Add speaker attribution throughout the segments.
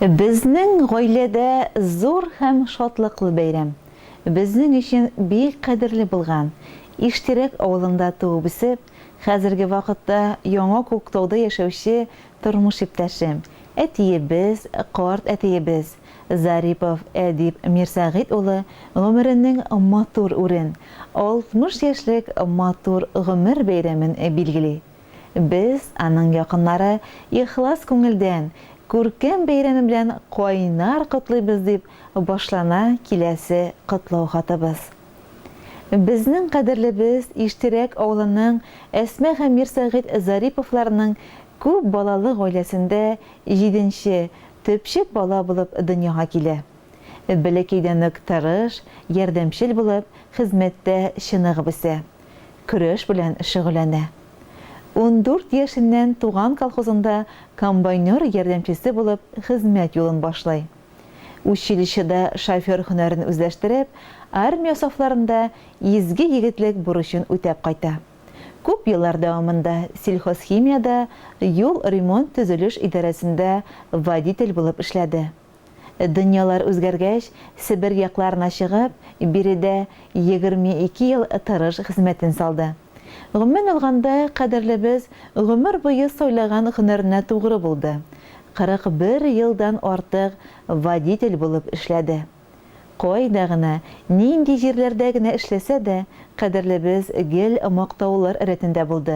Speaker 1: Безнең гаиләдә зур һәм шатлыклы бәйрәм. Безнең өчен бик кадерле булган, Иштирәк авылында туып-үсеп, хәзерге вакытта Яңа Күктауда яшәүче Тормыш иптәшем, әтиебез, карт әтиебез Зарипов Әдип Мирсәгыйть улы гомеренең матур үрен, 60 яшьлек матур гомер бәйрәмен билгели. Без, аның якыннары, ихлас күңелдән, күркәм бәйрәме белән кайнар котлыйбыз, дип башлана киләсе котлау хатыбыз. Безнең кадерлебез Иштирәк авылының Әсма һәм Мирсәгыйть Зариповларның күп балалы гаиләсендә җиденче, төпчек бала булып дөньяга килә. Бәләкәйдән үк тырыш, ярдәмчел булып, хезмәттә чыныгып үсә. Көрәш белән шөгыльләнә. Ундүрт яшеннән туган колхозында комбайнер ярдәмчесе булып хезмәт юлын башлый. Училищеда шофер һөнәрен үзләштереп, армия сафларында изге егетлек бурычын үтәп кайта. Күп еллар дәвамында Сельхозхимиядә юл ремонт-төзелеш идарәсендә водитель булып эшләде. Дөньялар үзгәргәч, Себер якларына чыгып, биредә егерме ике ел тырыш хезмәтен салды. Гомумән алганда, кадерлебез гомер буе сайлаган һөнәренә тугры булды, 41 елдан артык водитель булып эшләде. Кайда гына, нинди җирләрдә генә эшләсә дә, кадерлебез гел мактаулар рәтендә булды,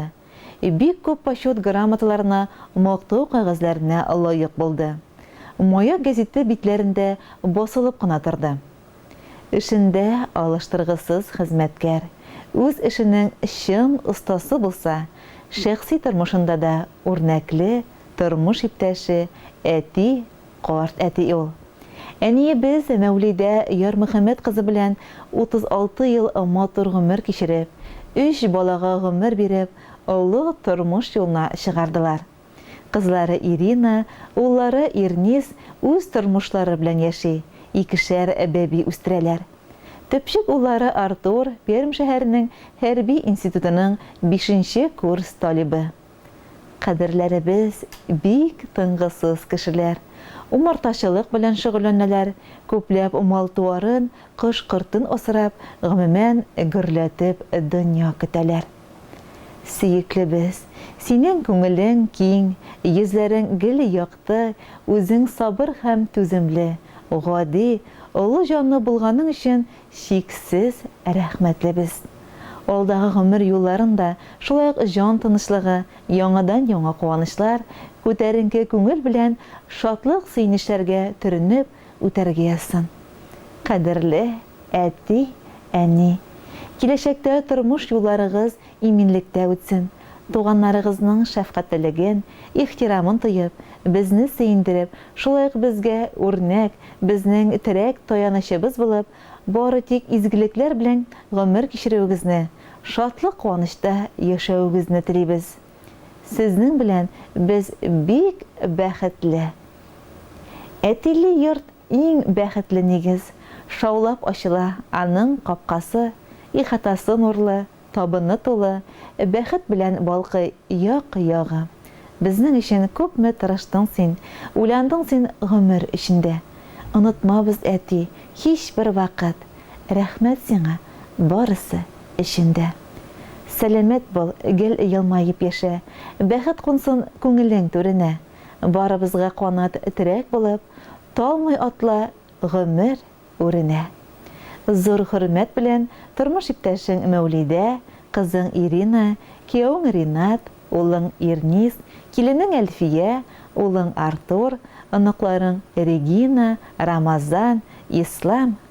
Speaker 1: бик күп почет грамоталарына, мактау кәгазьләренә лаек булды. Маяк гәзите битләрендә басылып кына торды. Эшендә алыштыргысыз хезмәткәр, үз эшенең чын остасы булса, шәхси тормышында да үрнәкле тормыш иптәше, әти, карт әти ул. Әниебез Мәүлидә Ярмөхәммәт кызы белән 36 ел матур гомер кичереп, өч балага гомер биреп, олы тормыш юлына чыгардылар. Кызлары Ирина, уллары Ирнис үз тормышлары белән яши, икешәр бәби үстерәләр. Төпчек уллары Артур, Пермь шәһәренең хәрби институтының бишенче курс талибы. Кадерләребез бик тынгысыз кешеләр. Умартачылык белән шөгыльләнәләр, күпләп мал-туарын, кош-кортын асрап, гомумән, гөрләтеп дөнья көтәләр. Сөеклебез, синең күңелең киң, йөзләрең гел якты, үзең сабыр һәм түземле, гади, олы җанлы булганың өчен чиксез рәхмәтлебез. Алдагы гомер юлларын да шулай ук җан тынычлыгы, яңадан-яңа куанычлар, күтәренке күңел белән шатлык-сөенечләргә төренеп, үтәргә язсын. Кадерле әти, әни, киләчәктә тормыш юлларыгыз иминлектә үтсен, туганнарыгызның шәфкатьлелеген, ихтирамын тоеп, безне сөендереп, шулай ук безгә үрнәк, безнең терәк таянычыбыз булып, бары тик изгелекләр белән гомер кичерүегезне, шатлык-куанычта яшәвегезне телибез. Сезнең белән без бик бәхетле! Әтиле йорт иң бәхетле нигез, шаулап ачыла аның капкасы, ихатасы нурлы, табыны тулы, бәхет белән балкый як-ягы. Безнең өчен күпме тырыштың син, уйландың син гомер эчендә. Онытмабыз, әти, һичбер вакыт! Рәхмәт сиңа барысы өчен дә! Сәламәт бул, гел елмаеп яшә, Бәхет кунсын күңелең түренә. Барыбызга канат, терәк булып, Талмый атла гомер үренә. Зур хөрмәт белән тормыш иптәшең Мәүлидә, кызың Ирина, киявең Ринат, улың Ирнис, киленең Әлфия, улың Артур, оныкларың Регина, Рамазан, Ислам,